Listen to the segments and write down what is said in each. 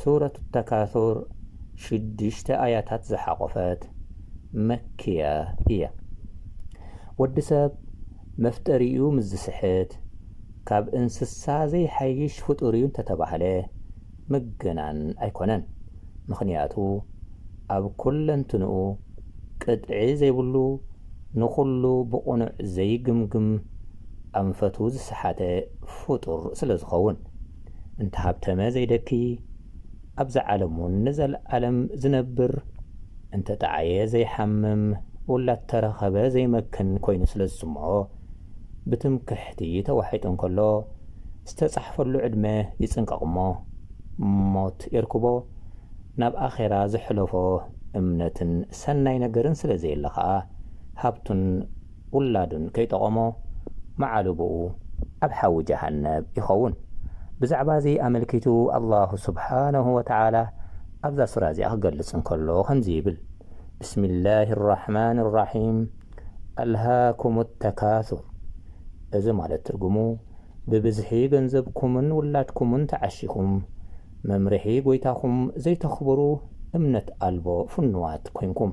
ሱረት ተካሱር ሽዱሽተ ኣያታት ዝሓቖፈት፣ መክያ፣ እያ። ወዲ ሰብ መፍጠሪኡ ምስ ዝስሕት፣ ካብ እንስሳ ዘይሓይሽ ፍጡር'ዩ እንተተባህለ ምግናን ኣይኮነን። ምኽንያቱ ኣብ ኩለንትንኡ ቅጥዒ ዘይብሉ፣ ንኹሉ ብቕኑዕ ዘይግምግም ኣንፈቱ ዝሰሓተ ፍጡር ስለዝኸውን። እንተሃብተመ ዘይደክይ ኣብዛ ዓለምውን ንዘልኣለም ዝነብር እንተጠዓየ ዘይሓምም ውላድተረኸበ ዘይመክን ኮይኑ ስለዝስምዖ ብትምክሕቲ ተዋሒጡ እንከሎ ዝተጻሕፈሉ ዕድመ ይጽንቀቕሞ ሞት የርክቦ ናብ ኣኼራ ዘሕለፎ እምነትን ሰናይ ነገርን ስለዘየለ ከኣ ሃብቱን ውላዱን ከይጠቐሞ መዓልቦኡ ኣብ ሓዊ ጀሃነብ ይኸውን። ብዛዕባ እዚ ኣመልኪቱ ኣላሁ ሱብሓነሁ ወተዓላ ኣብዛ ሱራ እዚኣ ክገልጽ እንከሎ ከምዚ ይብል፣ ብስሚላሂ ራሕማኒ ራሒም፣ ኣልሃኩሙ ተካሱር እዚ ማለት ትርጉሙ ብብዝሒ ገንዘብኩምን ውላድኩምን ተዓሺኹም መምርሒ ጎይታኹም ዘይተኽብሩ እምነት ኣልቦ ፍኑዋት ኮይንኩም።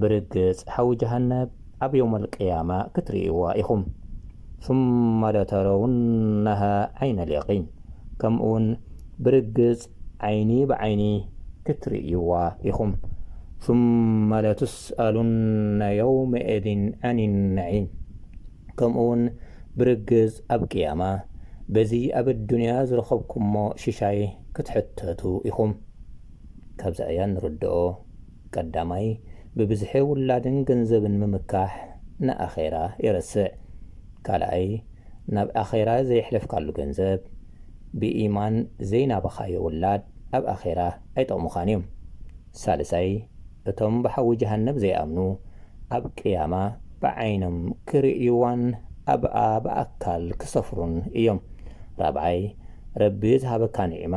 ብርግጽ ሓዊ ጀሃነብ ኣብ የውመል ቅያማ ክትርእይዋ ኢኹም፣ ثመ ለተረውነሃ ዐይነል የቒን፣ ከምኡውን ብርግጽ ዓይኒ ብዓይኒ ክትርእይዋ ኢኹም፣ ثመ ለቱስኣሉነ የውመኢዚን ዐኒ ነዒም፣ ከምኡውን ብርግጽ ኣብ ቅያማ በዚ ኣብ ኣዱንያ ዝረኸብኩሞ ሽሻይ ክትሕተቱ ኢኹም። ካብዚ ኣያ እንርድኦ። ቀዳማይ ብብዝሒ ውላድን ገንዘብን ምምካሕ ንኣኼራ የረስዕ። ካልኣይ ናብ ኣኼራ ዘየሕለፍካሉ ገንዘብ፣ ብኢማን ዘይናበኻዮ ውላድ ኣብ ኣኼራ ኣይጠቕሙኻን እዮም። ሳልሳይ እቶም ብሓዊ ጀሃነብ ዘይኣምኑ ኣብ ቅያማ ብዓይኖም ክርእዩዋን ኣብኣ ብኣካል ክሰፍሩን እዮም። ራብዓይ ረቢ ዝሃበካ ኒዕማ